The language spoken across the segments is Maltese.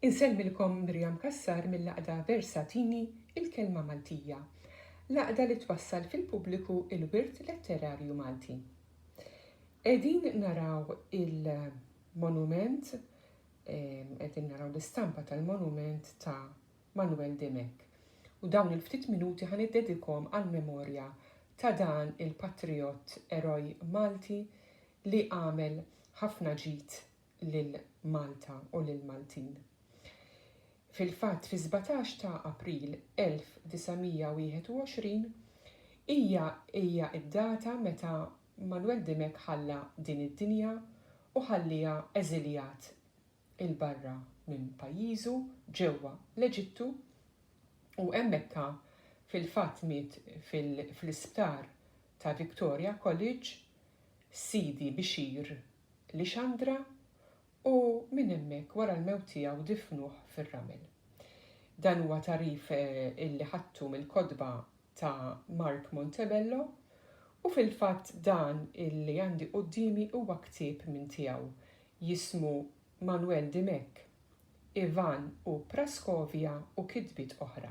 Insellmilkom Miriam Cassar mill-Għaqda Versatini, Il-Kelma Maltija, l-għaqda li twassal fil-pubbliku l-wirt letterarju Malti. Qegħdin naraw il-monument, qegħdin naraw l-istampa tal-monument ta' Manuel Dimech, u dawn il-ftit minuti ħa niddedikhom għall-memorja ta' dan il-patrijott eroj Malti li għamel ħafna ġid lil Malta u lill-Maltin. Fil-fatt, fis-sbatax ta' April 1921 hija hija d-data meta Manuel Dimech ħalla din id-dinja u ħalliha eżiljat 'il barra minn pajjiżu ġewwa l-Eġittu u hemm Mekka fil-fatt miet fl-isptar ta' Victoria College, Sidi Bixir Lixandra u minn hemmhekk wara l-mewt tiegħu difnuh fir-ramel. Dan huwa tagħrif illi ħadtu mill-kotba ta' Mark Montebello u fil-fatt dan illi għandi quddiemi huwa ktieb minn tiegħu jismu Manuel Dimech, Ivan u Praskovia u kitbiet oħra.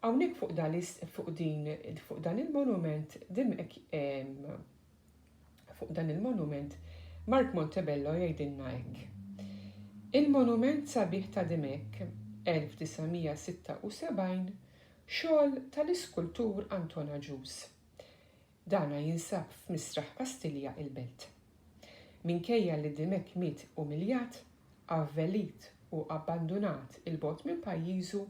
Hawnhekk fuq dan fuq din fuq dan il-monument Dimech fuq dan il-monument Mark Montebello jgħidilna hekk. Il-monument sabiħ ta' Dimech 1976 xogħol tal-iskultur Anton Agius. Dana jinsab f'Misraħ Kastilja il-Belt. Minkejja li Dimech miet umiljat, avvelit u abbandunat 'il bogħod minn pajjiżu,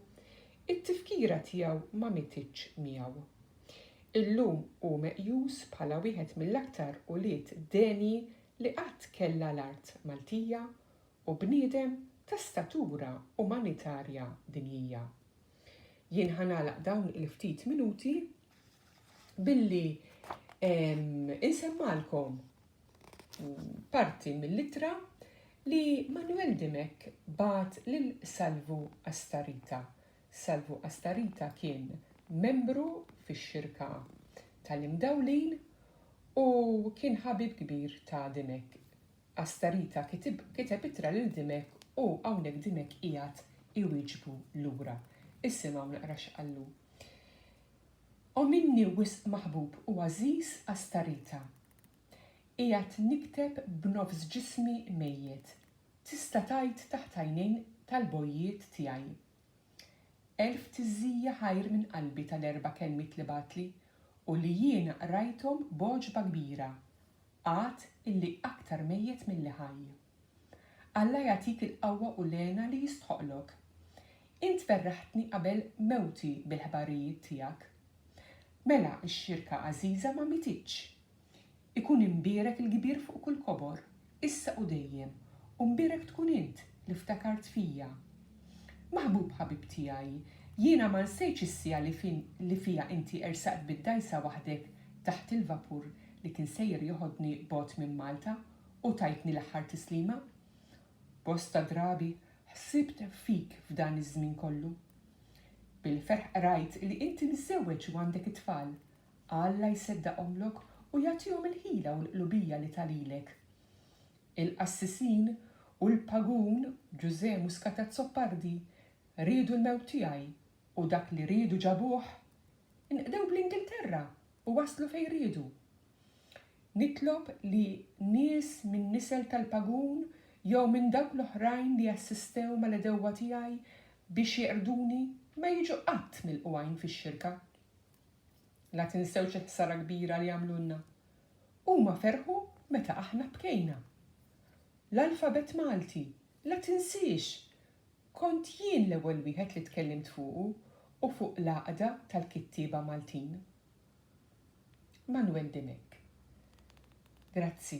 it-tifkira tiegħu ma mietitx miegħu. Illum hu meqjus bħala wieħed mill-aktar ulied denji li qatt kellha l-art Maltija u bniedem ta' statura umanitarja dinjija. Jien ħa nagħlaq dawn il-ftit minuti billi insemmalkom parti mill-ittra li Manuel Dimek bat lil Salvu Astarita. Salvu Astarita kien membru fix-xirka tal-imdawlin u kien ħabib kbir ta' Dimek. Astarita kiteb ittra lil Dimek u hawnhekk Dimek qiegħed iwieġbu lura. Isimgħu naqra x'qallu. O minni wisq maħbub u għażiż Astarita! Qiegħed nikteb b'nofs ġismi mejjet, tista' tgħid taħt għajnejn tal-bojjiet tiegħi. Elf tiżżija ħajr minn qalbi tal-erba' kelmiet li bagħatli u li jiena qrajthom b'għoġba kbira. Għad illi aktar mejjet milli ħaj. Alla jagħtik il-qawwa u l-hena li jistħoqlok. Int ferraħtni qabel mewti bil-ħbarijiet tiegħek. Mela x-xirka għażiża ma mietitx. Ikun imbierek il-kbir fuq kull kobor, issa u dejjem, u mbierek tkun int li ftakart fija. Maħbub ħabib tiegħi, jiena ma nsejtx is-siegħa li fiha inti ersaqt bid-dgħajsa waħdek taħt il-vapur li kien sejjer joħodni bogħod minn Malta u tajtni l-aħħar tislima. Bosta drabi ħsibt fik f'dan iż-żmien kollu. Bil-ferħ qrajt li inti miżżewweġ u għandek it-tfal. Alla jseddaqhomlok u jagħtihom il-ħila u l-qlubija li ta lilek. Il-qassisin u l-pagun Ġużè Muscat Azzopardi riedu l-mewt tiegħi u dak li riedu ġabuh. Inqdew bl-Ingilterra u waslu fejn riedu. Nitlob li nies minn nisel tal-pagun jew minn dawk l-oħrajn li assistew mal-għedewwa tiegħi biex jeqrduni ma jiġu qatt milqugħin fix-xirka. La tinsewx il-ħsara kbira li għamlulna. Huma ferħu meta aħna bkejna. L-alfabett Malti, la tinsiex! Kont jien l-ewwel wieħed li tkellimt fuqu u fuq l-Għaqda tal-Kittieba Maltin. Manwel Dimech. Grazzi.